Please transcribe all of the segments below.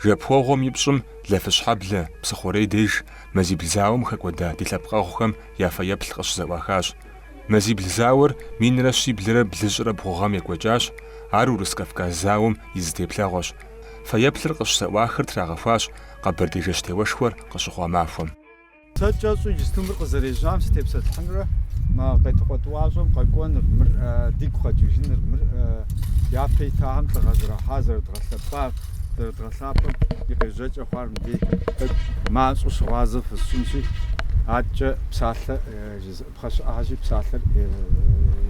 Жэпуэгъуэм и пщӏым Лафыщхьэблэ, Псыхъурей деж, мазибл зауэм хэкӏуэда ди лъэпкъэгъухэм я фэеплъ къыщызэӏуахащ. Мазибл зауэр минрэ щиблрэ блыщӏрэ бгъу гъэм екӏуэкӏащ, ар Урыс-Кавказ зауэм и зы теплъэгъуэщ. Фэеплъыр къыщызэӏуахыр трагъэхуащ Къэбэрдей жэщтеуэшхуэр къыщыхъуа махуэм. Сэ кӏэщӏу иджысту мыр къызэрежьам сытепсэлъыхьынурэ мы Къетыкъуэ тӏуащӏэм къэкӏуэныр, мыр дигу къэкӏыжыныр, мыр япэ итахэм лӏыгъэ зэрахьар, зэрыдгъэлъэпӏар, зэрыдгъэлъапӏэм и къежьэкӏэ хъуар мыбдей тӏэкӏу мащӏэу щыгъуазэ фысщӏынщи, адэкӏэ псалъэ жызыӏ. Пхъэ щыӏэхэщи, псалъэр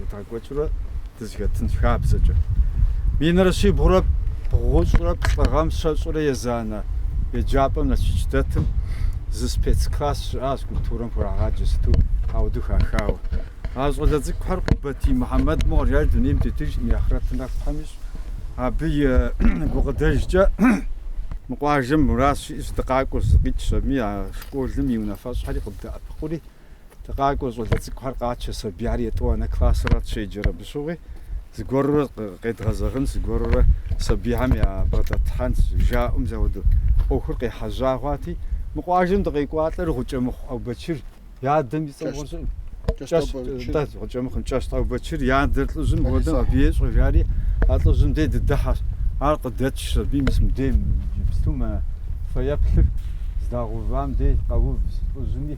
едгъэкӏуэкӏыурэ дызэхэтынщ хабзэкӏэ. Минрэ щибгъурэ бгъущӏрэ плӏы гъэм щэщӏурэ езанэ еджапӏэм Налшык дэтым зы спецкласс щыӏащ культурэм хурагъаджэ сыту ауэду хахауэ. А щӏалэ цӏыкӏухэр Къубатий Мухьэмэд мыгъуэр, ар дунейм тетыжкъым и ахърэтыр нэху Тхьэм ищӏ. Абы и гукъыдэжкӏэ мы къуажэм мурад щиӏэщ дыкъакӏуэу зыкъикӏ щэми, а школым и унафэщӏхэри къыддэӏэпыкъури, Дыкъакӏуэ, щӏалэ цӏыкӏухэр къачэ, сабийхэр етӏуанэ классырат щеджэр, абы щыгъуи зыгуэрурэ къедгъэзэгъынщ, зыгуэрурэ сабийхэм ябгъэдэтлъхьэнщ, жаӏэу мис ауэду ӏуэхур къехьэжьа хъуати, мы къуажэм дыкъекӏуалӏэр Гъукӏэмыхъу Ӏэубэчыр и адэм и цӏэм гъущӏ, кӏэщ, нтӏэ, Гъукӏэмыхъум, кӏэщ Ӏэубэчыр и адэр лӏыжьым хуэдэм абы ещӏэ, жари а лӏыжьым дей дыдыхьэщ, ар къыдэтшщ абы мис мыбдейм, иджыпсту мы фэеплъыр здагъэувам дей къэув лӏыжьыми,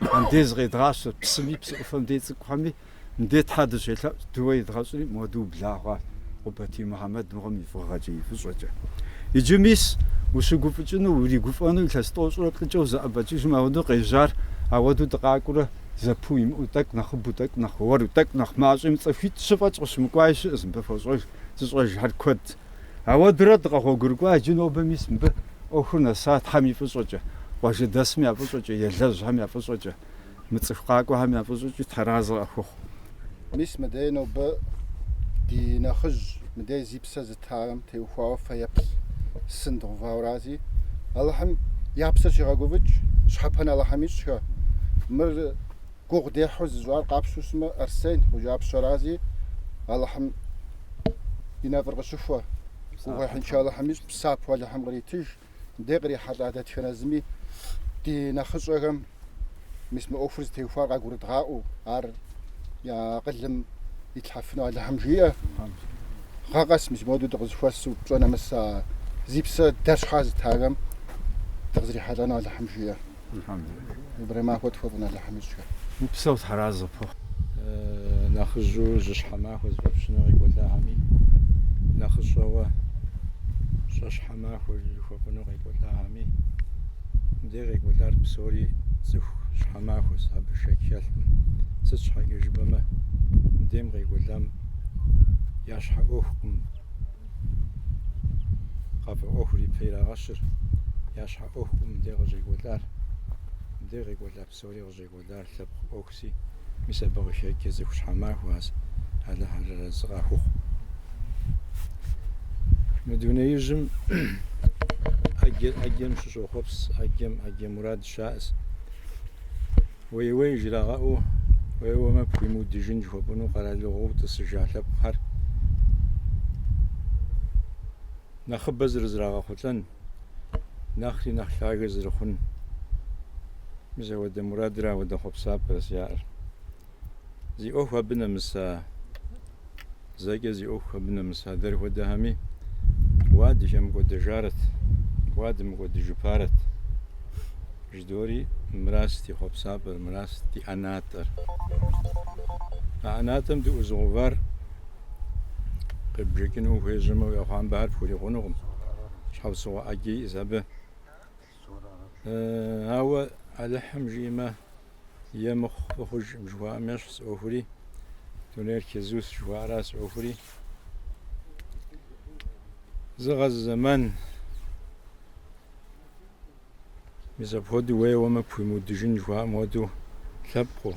Мыхьэнде зыкъедгъащэ псыми, псы ӏуфэм дей цӏыкӏухэми, Мыдей Тхьэ дыщелъэӏущ, дыуэ едгъэщӏри, моду убла хъуащ Къубатий Мухьэмэд мыгъуэм и фӏыгъэкӏэ, и фӏыщӏэкӏэ. Иджы мис, ущыгуфӏыкӏыну, уригуфӏэну илъэс тӏощӏрэ плӏыкӏэ узэӏэбэкӏыжым ауэдэу къежьар, ауэдэу дыкъакӏуэурэ, зэпыу имыӏэу, тӏэкӏу нэхъыбэу, тӏэкӏу нэхъ уэру, тӏэкӏу нэхъ мащӏэми цӏыхуитӏ-щы фӏэкӏ къыщымыкӏуаи щыӏэщ, мыбы фощӏэж, зыщӏэжхэр куэдщ. Ауэдурэ дыкъэгъуэгурыкӏуа иджы нобэ мис мыбы ӏуэхур нэса Тхьэм и фӏыщӏэкӏэ, къуажэдэсым я фӏыщӏэкӏэ, елэжьхэм я фӏыщӏэкӏэ, мы цӏыху къакӏуэхэм я фӏыщӏэкӏи Тхьэразэ къахуэхъу. Мис мыдей нобэ ди нэхъыжь, мыдей зи псэ зытахэм теухуауэ фэеплъ сын дгъэувауэрази, Алыхьым я псэр щигъэгуфӏыкӏ, щхьэпэн Алыхьым ищӏхэ, мыр гугъу дехьу зыщӏар къапщтэу щытмэ, Арсен Гъущӏапщэрази, Алыхьым и нэфӏыр къыщыхуэ, гугъуехьыншэ Алыхьым ищӏ, псапэу Алыхьым къритыж, мыдей кърихьэлӏа дэтхэнэ зыми ди нэхъыщӏэхэм, мис мы ӏуэхур зытеухуар къагурыдгъаӏуэу, ар я акъылым итлъхьэфыну Алыхьым жиӏэ. Гъэ къэс мис моду дыкъызэхуэсу пщӏэ нэмыс а зи псэ дэр щхьа зытахэм дыкъызэрихьэлӏэну Алыхьым жиӏэ. Нобэрей махуэ тхуэфӏын Алыхьым ищӏхэр. Упсэу тхьэразэ къыпхухъу. Нэхъыжьу жьыщхьэ махуэ зыфӏэпщыну къекӏуэлӏахэми, нэхъыщӏэуэ щӏэщхьэ махуэ жыхуэфӏыну къекӏуэлӏахэми, мыбдей къекӏуэлӏар псори цӏыху щхьэ махуэс, абы шэч хэлъкъым. Сыт щхьэкӏэ жыпӏэмэ, мыбдейм къекӏуэлӏам я щхьэ ӏуэхукъым. къафэ ӏуэхур ипэ ирагъэщыр, я щхьэ ӏуэхукъым мыбдей къыщӏекӏуэлӏар. Мыбдей къекӏуэлӏа псори къыщӏекӏуэлӏар лъэпкъ ӏуэхуси, мис абы къыхэкӏкӏэ цӏыху щхьэмахуэхэс, Алыхь арэзы къахухъу. Мы дунеижьым ӏэджэ ӏэджэм щыщӏохъуэпс, ӏэджэм ӏэджэ мурад щаӏэс. Уей-уей жрагъэӏэу, уеуэмэ пхуимыудыжын жыхуэпӏэну къэралыгъуэу тӏысыжа лъэпкъхэр нэхъыбэ зэрызрагъэхъулӏэн, нэхъри нэхъ лъагэ зэрыхъун, мис ауэдэ мурадрэ ауэдэ хъуэпсапӏэрэс яӏэр. Зи ӏуэху абы нэмыса Зэкӏэ зи ӏуэху абы нэмыса дэр хуэдэхэми уа дыхэмыкӏуэдэжарэт, уа дымыкӏуэдыжыпарэт жыдори, мыращ ди хъуэпсапӏэр, мыращ ди ӏэнатӏэр. А ӏэнатӏэм дыӏузыгъувар къебжэкӏыну ухуежьэмэ, уи ӏэхъуамбэхэр пхурикъунукъым, щхьэусыгъуэ ӏэджэ иӏэс абы. Ауэ Алыхьым жиӏэмэ, е мыхъу фӏы хъужкъым жыхуаӏэм ещхьс ӏуэхури, дунейр кезус жыхуаӏэрас ӏуэхури. Зы гъэ, зы зэман мис апхуэдэу уеуэмэ пхуимыудыжын жыхуаӏэм хуэдэу лъэпкъыу,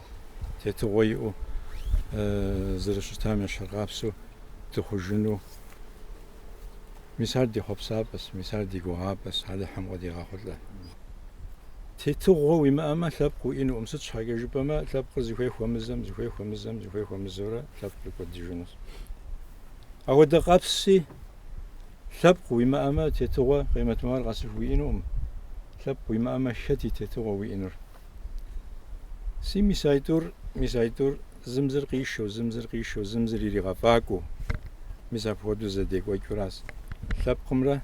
тетыгъуэ иӏэу зэрыщытам ещхьыркъабзэу дыхъужыну Мис ар ди хъуэпсапӏэщ, мис ар ди гугъапӏэщ, Алыхьым къыдигъэхъулӏэ. Тетыгъуэ уимыӏэмэ, лъэпкъ уиӏэнукъым, сыт щхьэкӏэ жыпӏэмэ, лъэпкъыр зыхуей хуэмызэм, зыхуей хуэмызэм, зыхуей хуэмызэурэ лъэпкъыр кӏуэдыжынущ. Апхуэдэ къабзэщи, лъэпкъ уимыӏэмэ, тетыгъуэ къемэт махуэр къэсыху уиӏэнукъым. Лъэпкъ уимыӏэмэ, хэт и тетыгъуэ уиӏэнур? Си мис аитӏур, мис аитӏур. Зым зыр къишэу, зым зыр къишэу, зым зыр иригъэфӏакӏуэу. Мис апхуэдэу зэдекӏуэкӏыуращ лъэпкъымрэ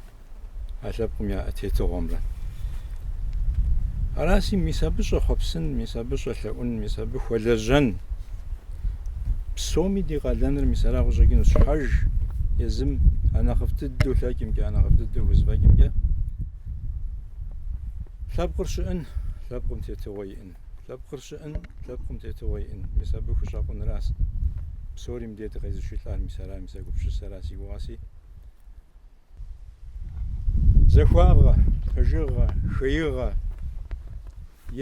а лъэпкъым я тетыгъуэмрэ. Араси, мис абы щӏэхъуэпсын, мис абы щӏэлъэӏун, мис абы хуэлэжьэн. Псоми ди къалэныр мис ара къыщӏэкӏынущ, щхьэж езым анэхъыфӏ дыдэу лъэкӏымкӏэ, анэхъыфӏ дыдэу хузэфӏэкӏымкӏэ лъэпкъыр щыӏын, лъэпкъым тетыгъуэ иӏын. Лъэпкъыр щыӏэн, лъэпкъым тетыгъуэ иӏэн, мис абы хущӏэкъунращ псори мыдей дыкъезышэлӏар, мис ара, мис а гупсысэра си гугъэси. Захуагъэ, пэжыгъэ, хеигъэ,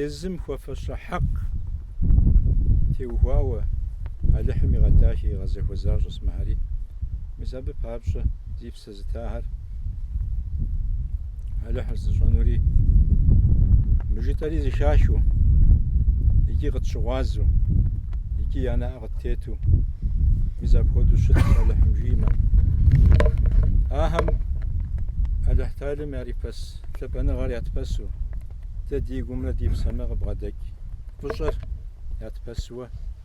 езым хуэфэщэ хьэкъ теухуауэ Алыхьым игъэдахи, игъэзахуэ защӏэс мыхэри, мис абы папщӏэ зи Зытахэр Алыхьыр зыщӏэнури мы жытӏэри зыхахыу икӏи къытщыгъуазу икӏи я нэӏэ къыттету мис апхуэдэу щыт Алыхьым жимэ. Ахэм Алыхь Талым ярипэс лъапӏэныгъэр ятпэсу дэ ди гумрэ ди псэмэ къыбгъэдэкӏ фӏыщӏэр ятпэсуэ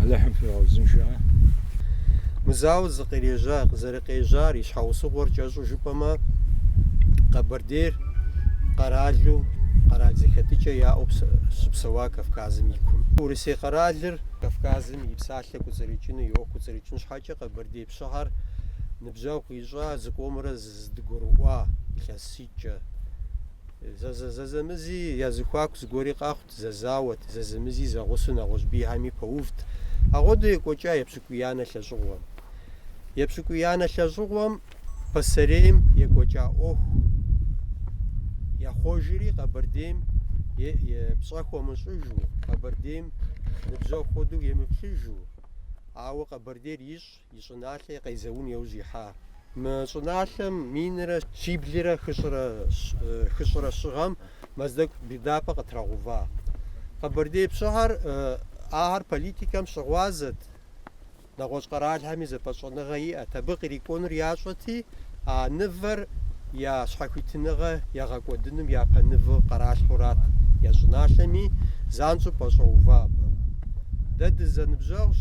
Алыхьым фигъэузыншэ. Мы зауэр зыкъирежьа, зэрыкъежьар и щхьэусыгъуэр кӏэщӏу жыпӏэмэ, Къэбэрдейр къэралу къэрал зэхэтыкӏэ яӏэу щыпсэуа Кавказым и кум. Урысей къэралыр Кавказым и псалъэ кӏуцӏрыкӏыну и ӏуэху кӏуцӏрыкӏын щхьэкӏэ Къэбэрдей пщыхэр ныбжьэгъу къищӏа зыкъомрэ зэдыгурыӏуа илъэс Кӏэ. Зэзэмызи я зыхуаку зыгуэри къэхъут, зэзауэт, зэзэмызи зэгъусу нэгъуэщӏ бийхэми пэувт. Агъуэду екӏуэкӏа епщыкӏуиянэ лӏэщӏыгъуэм. Епщыкӏуиянэ лӏэщӏыгъуэм пасэрейм екӏуэкӏа ӏуэху яхъуэжри Къэбэрдейм пщӏэ хуэмыщӏыжу, Къэбэрдейм ныбжьэгъу хуэдэу емыплъыжу, ауэ Къэбэрдейр ищӏ, И щӏыналъэ и къезэун иужь ихьа. Мы щӏыналъэм минрэ щиблрэ хыщӏрэ щы гъэм Мэздэгу быдапӏэ къытрагъэува. Къэбэрдей пщыхэр ахэр политикэм щыгъуазэт, нэгъуэщӏ къэралхэми зэпэщӏэныгъэ иӏэт, абы кърикӏуэнур ящӏэти, А нывэр я щхьэхуитыныгъэ ягъэкӏуэдыным япэ ныву къыралъхьэурат я щӏыналъэми, занщӏэу пэщӏэува абы. Дэ дызэныбжьэгъущ,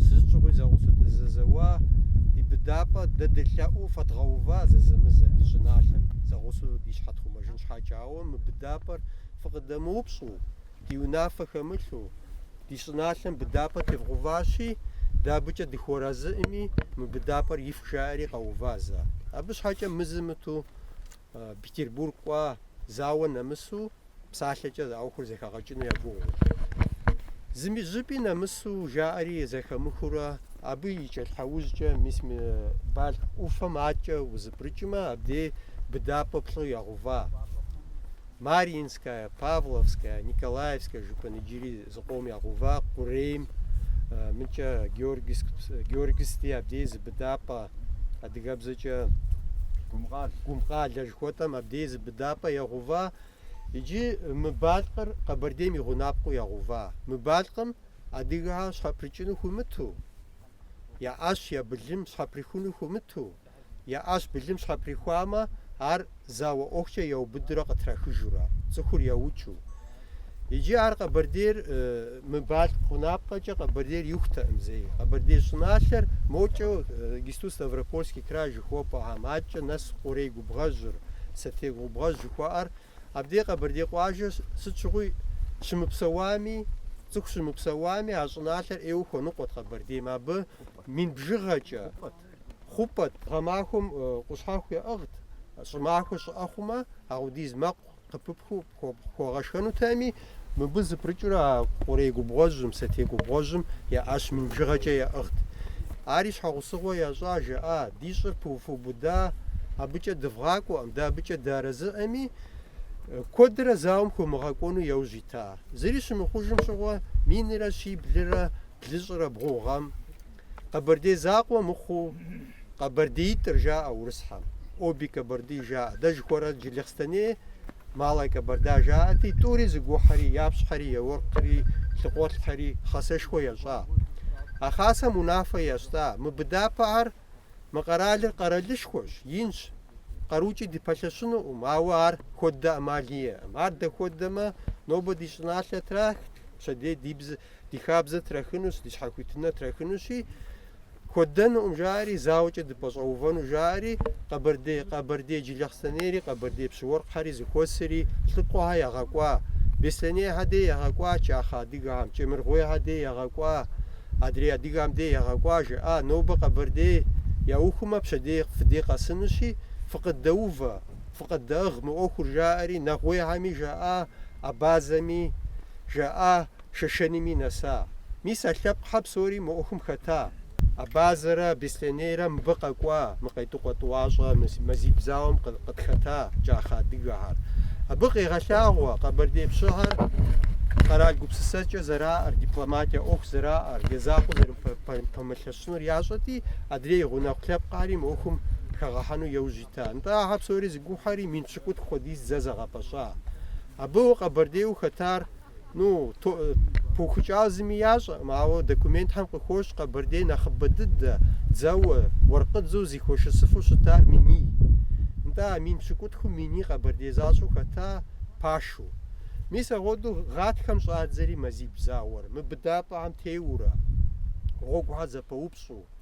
зэщӏыгъуи зэгъусэу дызэзэуа ди быдапӏэ, дэ дылъэӏуу фэдгъэува зэзэмызэ ди щӏыналъэм зэгъусэу ди щхьэ тхъумэжын щхьэкӏэ. Ауэ мы быдапӏэр фыкъыдэмыупщӏу. ди унафэ хэмылъу, ди щӏыналъэм быдапӏэ тевгъэуващи, дэ абыкӏэ дыхуэразыӏми, мы быдапӏэр ифх жаӏэри къэувазэ. Абы щхьэкӏэ мызэ-мытӏэу Петербург кӏуа, зауэ нэмысу, псалъэкӏэ ӏуэхур зэхагъэкӏыну я гугъу. Зыми щӏыпӏи нэмысу жаӏэри зэхамыхыурэ, абы и кӏэлъхьэужькӏэ мис мы Балъкъ ӏуфэм адэкӏэ узэпрыкӏмэ, абдей быдапӏэ плӏы ягъэува. Марьинская, Павловская, Николаевская жыпӏэн иджыри зы къом ягъэува Къурейм, мыкӏэ Георгиевски абдей зы быдапӏэ, адыгэбзэкӏэ Гумкъалэ жыхуэтӏэм абдей зы быдапӏэ ягъэува, иджы мы Балъкъыр Къэбэрдейм и гъунапкъэу ягъэува. Мы Балъкъым адыгэхэр щхьэпрыкӏыну хуимыту, я ӏэщ, я былым щхьэприхуну хуимыту, Я ӏэщ былым щхьэприхуамэ, ар зауэ ӏуэхукӏэ яубыдурэ къытрахыжурэ, цӏыхур яукӏыу. Иджы ар Къэбэрдейр мы Балъкъ гъунапкъэкӏэ Къэбэрдейр иухтэкъым зэи. Къэбэрдей щӏыналъэр мокӏэ иджыпсту Ставропольский край жыхуэпӏэхэм акӏэ нэс Къурей губгъуэжьыр, Сэтей губгъуэжь жыхуаӏэр, абдей Къэбэрдей къуажэ сыт щыгъуи щымыпсэуами, цӏыху щымыпсэуами, а щӏыналъэр ӏейуэ хуэныкъуэт Къэбэрдейм абы мин бжыгъэкӏэ. Хъупӏэт, гъэмахуэм къущхьэхъу яӏыгът, щӏымахуэ щӏыӏэ хъумэ, ахъудиз мэкъу къыпыпхыу пхуэгъэшхэнутэми, мыбы зыпрыкӏыурэ а Къурей губгъуэжьым, Сэтей губгъуэжьым я ӏэщ мин бжыгъэкӏэ яӏыгът. Ари щхьэгъусыгъуэ ящӏа, жаӏа, ди щӏыр пыуфубыда, абыкӏэ дывгъакӏуэкъым, дэ абыкӏэ дыарэзыӏэми, куэдрэ зауэм хуэмыгъэкӏуэну яужь ита. Зыри щымыхъужым щыгъуэ, минрэ щиблрэ блыщӏрэ бгъу гъэм, Къэбэрдей закъуэ мыхъуу къэбэрдеитӏыр жаӏэ урысхьэм, Обе Кабарды жаӏэ, дэ жыхуэрэ Джылахъстэней Малая Кабарда жаӏэти, тӏури зыгухьэри, я пщыхьэри, я уэркъри, лъхукъуэлӏхэри хасэшхуэ ящӏа. А хасэм унафэ ящта, мы быдапӏэхэр, мы къэралыр къэралышхуэщ, инщ, къарукӏи дыпэлъэщынукъым, ауэ ар хуэддэ ӏэмал иӏэкъым. Ар дэ хуэддэмэ, нобэ ди щӏыналъэ трахт, пщэдей ди бзэ. Ди хабзэ трахынущ, ди щхьэхуитыныр трахынущи, хуэддэнукъым жаӏэри, зауэкӏэ дыпэщӏэувэну жаӏэри, къэбэрдей, къэбэрдей Джылахъстэнейри, къэбэрдей пщыуэркъхьэри зыхуэсри лӏыкӏуэхэр ягъэкӏуа, беслъэнейхэ дей ягъэкӏуа, кӏахэ адыгэхэм, кӏэмыргуейхэ дей ягъэкӏуа, адрей адыгэхэм дей ягъэкӏуа, жаӏа, нобэ Къэбэрдей яухумэ, пщэдей фыдей къэсынущи, фыкъыддэувэ, фыкъыддэӏыгъ мы ӏуэхур жаӏэри, нэгъуейхэми жаӏа, абазэми жаӏа. Шэшэними нэса. Мис а лъэпкъхэр псори мы ӏуэхум хэта. Абазэрэ Беслъэнейрэ мыбы къэкӏуа, мы Къетыкъуэ тӏуащӏэ мазибл зауэм къытхэта кӏахэ адыгэхэр. Абы къегъэлъагъуэ Къэбэрдей пщыхэр къэрал гупсысэкӏэ зэраӏэр, дипломатие ӏуэху зэраӏэр, я закъуэ зэрыпэмылъэщынур ящӏэти, адрей гъунэгъу лъэпкъхьэри мы ӏуэхум хэгъэхьэну яужь ита. Нтӏэ, ахэр псори зыгухьэри, мин пщыкӏутху хуэдиз дзэ зэгъэпэща. Абы Къэбэрдейуэ хэтар Ну, то, пыухыкӏауэ зыми ящӏэкъым, ауэ документхэм къыхощ Къэбэрдей нэхъыбэ дыдэ, дзэуэ, уэркъыдзэу зихуэшысыфу щыта миний. Нтӏэ, а мин пщыкӏутхум миний Къэбэрдей защӏэу хэта пашу. Мис агъуэду гъатхэм щӏадзэри мазибл зауэр, мы быдапӏэхэм теуурэ, гъуэгухьэр зэпэупщӏу.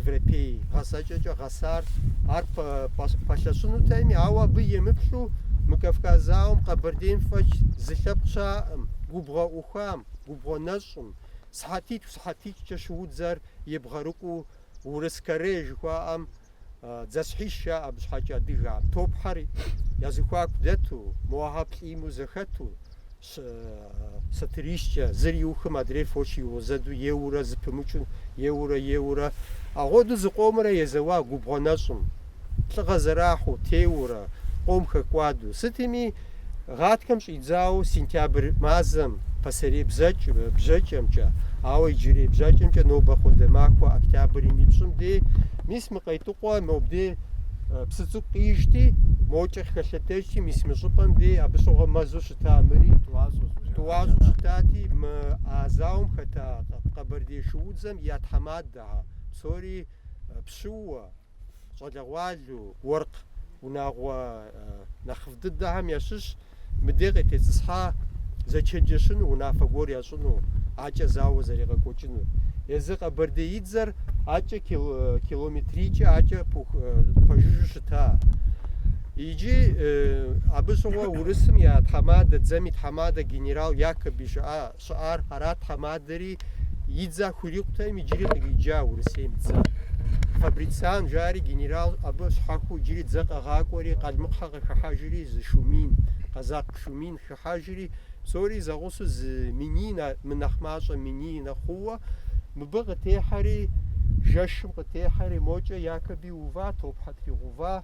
европей гъэсэкӏэкӏэ гъэсар ар пэлъэщынутэми, ауэ абы емыплъу мы Кавказ зауэм Къэбэрдейм фӏэкӏ зы лъэпкъ щыӏэм, губгъуэ ӏухам, губгъуэ нэщӏым, сыхьэтитӏу сыхьэтитӏкӏэ шыудзэр ебгъэрыкӏуэу урыс каре жыхуаӏэм дзэсхьищ жаӏэ, абы щхьэкӏэ адыгэхьэм, топхьэр я зыхуаку дэту, мохьэр плӏиму зэхэту, Сатырищкӏэ, зыр иухым адрейр фоч иузэду еуурэ зыпымычу, еуурэ, еуурэ. Агъуэду зыкъомрэ езэуа губгъуэ нэщӏым. Лӏыгъэ зэрахьу, теуурэ, къом хэкӏуаду. Сытми, гъатхэм щӏидзауэ сентябрь мазэм, пасэрей бзэкӏ, бжэкӏэмкӏэ, ауэ иджырей бжэкӏэмкӏэ нобэ хуэдэ махуэ октябрым и пщӏым дей, мис мы Къетыкъуэ мобдей псы цӏыкӏу къижти, мокӏэ хэлъэдэжти, мис мы щӏыпӏэм дей абы щыгъуэ мэзу Щыта мыри тӏуащӏэщ. Тӏуащӏэу щытати, мы а зауэм хэта къэбэрдей шуудзэм я тхьэмадэхьэ псори пщыуэ, щӏалэгъуалэу, уэркъ унагъуэ нэхъыфӏ дыдэхэм ящыщ, мыдей къытетӏысхьа зэчэнджэщыну, унафэ гуэр ящӏыну, акӏэ зауэ зэригъэкӏуэкӏынур. Езы къэбэрдеидзэр акӏэ километрийкӏэ акӏэ пэжыжьу щы. Та. Иджы абы щыгъуэ урысым я тхьэмадэ, дзэм и тхьэмадэ генерал Якоби щыӏар арат тхьэмадэри и дзэ хуирикъутэм иджыри къриджа Урысейм дзэ. Фабрициан жари генерал абы щхьэхуу иджыри дзэ къэгъакӏуэри, къалмыкъхьэ къыхыхьэжри зы шу мин, къэзакъ шу мин Хьэжри псори зэгъусу зы миний мынэхъ мащӏэ миний нэхъ хъууэ, мыбы къытехьэри, жэщым къытехьэри, мокӏэ Якоби ува, топхьэ тригъува,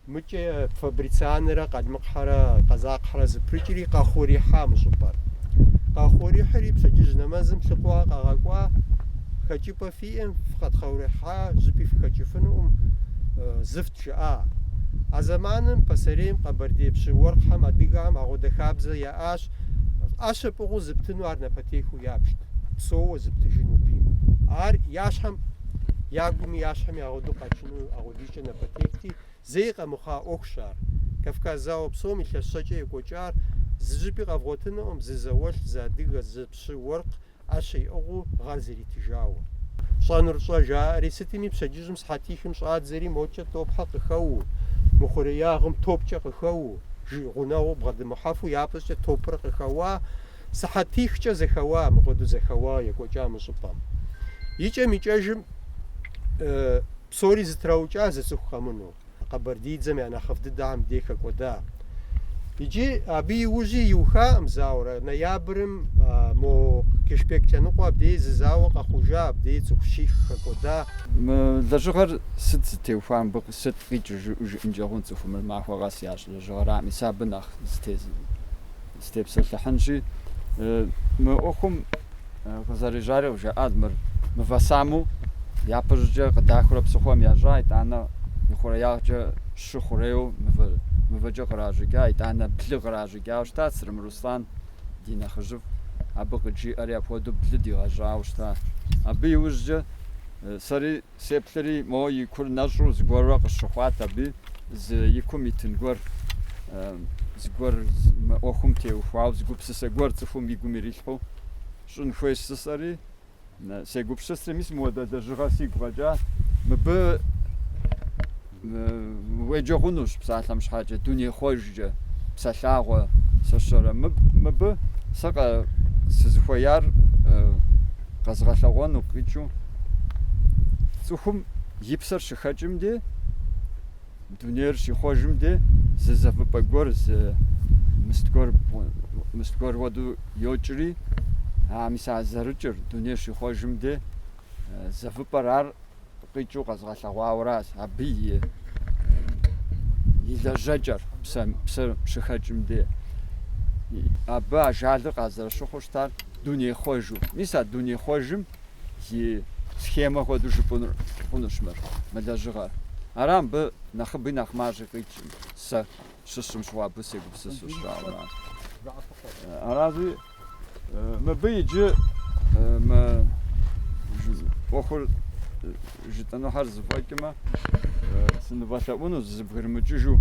мыкӏэ Фабрицианрэ Къалмыкъхьэрэ Къэзакъхьэрэ зыпрыкӏри, къахъурихьа мы щӏыпӏэр. Къахъурихьри пщэдджыжь нэмэзым лӏыкӏуэ къагъэкӏуа, хэкӏыпӏэ фиӏэм, фыкъэтхъурихьа, щӏыпӏи фыхэкӏыфынукъым, зыфт жаӏа. А зэманым пасэрейм Къэбэрдей пщы-уэркъхьэм адыгэхэм агъуэдэ хабзэ яӏащ, ӏэщэ пӏыгъыу зыптыну ар напэтехыу ябжт, псоуэ зыптыжыну бийм. Ар я щхьэм, я гуми я щхьэми агъуэдэу къэкӏыну агъуэдизкӏэ напэтехти, зэи къэмыхъуа ӏуэхущ ар. Кавказ зауэ псом илъэс щэкӏэ екӏуэкӏар зы щӏыпӏи къэвгъуэтынукъым, зы зауэлӏ, зы адыгэ, зы пщы-уэркъ, ӏэщэ иӏыгъыу гъэр зритыжауэ. Пщӏэнур щӏэ, жаӏэри, сытми пщэдджыжьым сыхьэтихым щӏадзэри, мокӏэ топхьэ къыхэуу, мыхъуреягъым топкӏэ къыхэуу, жи гъунэгъуу бгъэдымыхьэфу япэщӏыкӏэ топыр къыхэуа, сыхьэтихкӏэ зэхэуа, мыхуэдэу зэхэуа екӏуэкӏа мы щӏыпӏэм. Икӏэм-икӏэжым псори зэтраукӏа зы цӏыху къэмыну. къэбэрдейдзэм я нэхъыфӏ дыдэхьэм дей хэкӏуэда. Иджы абы иужьи иухаӏым зауэрэ, ноябрым мо Кыщпэк лъэныкъуэ абдей зы зауэ къэхъужа, абдей цӏыху щих хэкӏуэда. Мы лэжьыгъэр сыт зытеухуа мыбы, сыт къикӏыр жыӏэу жыӏэнкӏэ хъун цӏыхум, мыр махуэ къэс ящӏ лэжьыгъэрами, сэ абы нэхъ зытезым. Сытепсэлъыхьынщи, мы ӏуэхум къызэрежьари къыжаӏат, мыр мывэ саму япэщӏыкӏэ къыдахурэ псыхъуэм ящӏа, итӏанэ ихъуреягъкӏэ щы хъурейуэ мывэ, мывэкӏэ къращӏыкӏа, итӏанэ блы къращӏыкӏауэ щыта Цырым Руслан, ди нэхъыжьыфӏ, абы къыджиӏэри апхуэдэу блы дигъэщӏауэ щыта. Абы иужькӏэ сэри Сеплъри, мо и кур нэщӏу зыгуэрурэ къысщыхъуат абы зы и кум итын гуэр, зыгуэр мы ӏуэхум теухуауэ, зы гупсысэ гуэр цӏыхум и гум ирилъхьу щӏын хуей жысӏэри, сегупсысри, мис мыуэдэ лэжьыгъэ сигу къэкӏа, мыбы Уеджэ хъунущ псалъэм щхьэкӏэ, дунейхъуэжкӏэ, псэ лъагъуэ, сщӏэрэ. Мыбы сэ сызыхуеяр къэзгъэлъэгъуэну къикӏыу, цӏыхум и псэр щыхэкӏым де, дунейр щихъуэжым де, зы зэвыпӏэ гуэр, зы мыст гуэр, мыст гуэр уэду йокӏри, а мис а зэрыкӏыр, дунейр щихъуэжым де, зэвыпӏэр ар къикӏыу къэзгъэлъэгъуауращ абы и и лэжьэкӏэр псэ псэр щыхэкӏым де абы ажалыр къазэрыщыхъуу щытар дунейхъуэжу мис а дунейхъуэжым и схемэ хуэдэу жыпӏэну хъунущ мыр мы лэжьыгъэр ара мыбы нэхъыби нэхъ мащӏи къикӏӏым сэ щысщӏым щыгъуэ абы сегупсысу щытауэ аращи Мыбы иджы мы ӏуэхур жытӏэнухьэр зэфӏэкӏмэ, сынывэлъэӏуну фызэбгрымыкӏыжу,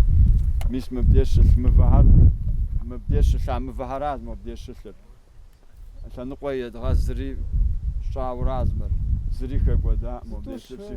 мис мыбдеж щылъ мывэхьэр, мыбдеж щылъа мывэхьэращ мыбдеж щылъыр. Лъэныкъуэ едгъэзри тщӏауэращ мыр, зыри хэкӏуэда мыбдеж щылъи.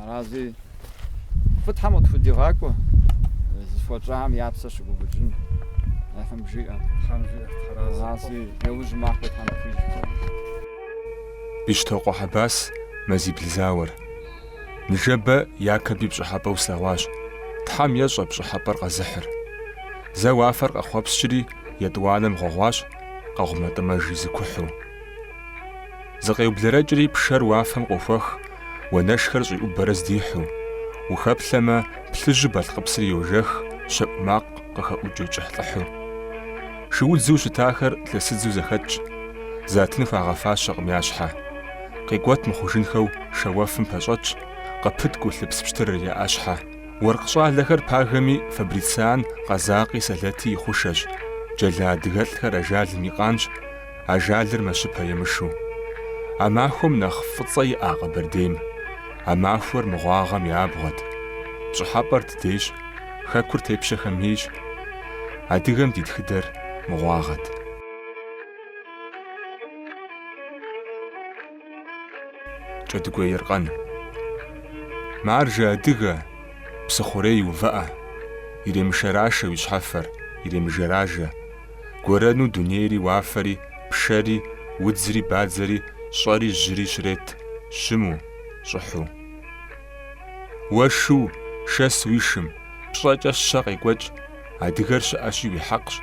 Арази фӏы Тхьэм къытхудигъакӏуэ, зыхуэщӏам я псэ щыгуфӏыкӏын. Тхьэм жиӏэ. Тхьэм жиӏэ, Тхьэрази. Арази яужь махуэ Тхьэм къыхуищӏ. Бещтокъуэ Хьэбас Мазибл зауэр. Ныжэбэ Якэби пщӏыхьэпӏэу слъэгъуащ. Тхьэм ещӏэ пщӏыхьэпӏэр къэзыхьыр. Зэ уафэр къэхъуэпскӏри, етӏуанэм гъуэгъуащ, къэгъумэтӏымэжи зыкухьу. Зыкъеублэрэкӏри пшэр уафэм къохуэх, уанэшхэр щӏиӏубэрэ здихьу. Ухэплъэмэ, плъыжьу Балъкъыпсыр йожэх, щэӏу макъ къыхэӏукӏыу кӏыхьлӏыхьу. Шыудзу щытахэр лъэсыдзу зэхэтщ, затын хуагъэфащэкъым я щхьэ. Къикӏуэт мыхъужынхэу шэуэфым пэщӏэтщ, къыпыткӏу лъыпс пщтырыр я ӏэщхьэ. Уэркъ щӏалэхэр пагэми Фабрициан къэзакъи сэлэти и хъушэщ, джэла адыгэлӏхэр ажалым и къанщ, ажалыр мэщыпэ емышу. А махуэм нэхъ фӏыцӏэ иӏа Къэбэрдейм? А махуэр мыгъуагъэм и абгъуэт. Пщӏыхьэпӏэр дыдейщ, Хэкур тепщэхэм ейщ. Адыгэм ди тхыдэр мыгъуагъэт. Кӏэдыгуей Еркъэн. Маржэ адыгэ, псыхъурей увыӏэ, иремышэрашэ уи щхьэфэр, иремыжэражэ. Гуэрэну дунейри уафэри, пшэри, удзри, бадзэри, щӏэри жьыри щрет щыму, щӏыхьу. Уэ шу, шэс уи шым, пщӏэкӏэ щэ къекӏуэкӏ, адыгэр щыӏэщи уи хьэкъщ.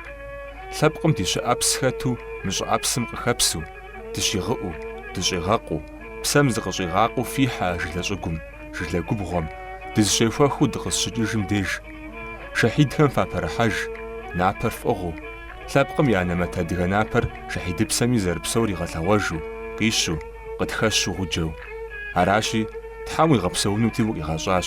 Лъэпкъым ди щыӏэпс хэту мы щӏыӏэпсым къыхэпсу, Дыщигъыӏу, дыщӏигъэкъуу, псэм зыкъыщӏигъакъуэу фихьэ а жылэ щӏыгум, жылэ губгъуэм, дызыщехуэхыу дыкъызщыкӏыжым деж. Шэхьидхэм фапэрыхьэж, напэр фӏыгъыу, лъэпкъым и анэмэт адыгэ напэр шэхьидыпсэми зэрыпсэур игъэлъэгъуэжу, къищу, къытхэщу гъуджэу. Аращи, Тхьэм уигъэпсэунути укъигъэщӏащ.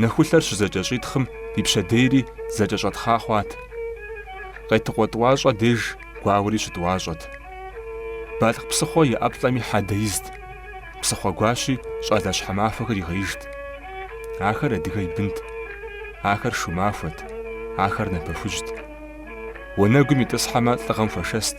нэхулъэр щызэкӏэщӏитхъым и пщэдейри зэкӏэщӏэтхъа хъуат. Къетыкъуэ тӏуащӏэ деж гуауэри щытӏуащӏэт. Балъкъ псыхъуэ и ӏэплӏэми хьэдэ изт, псыхъуэ гуащи щӏалэ щхьэмахуэхэр игъеижт. Ахэр адыгэ и бынт, ахэр шу махуэт, ахэр напэ хужьт. Уанэгум итӏысхьэмэ лӏыгъэм хуэшэст.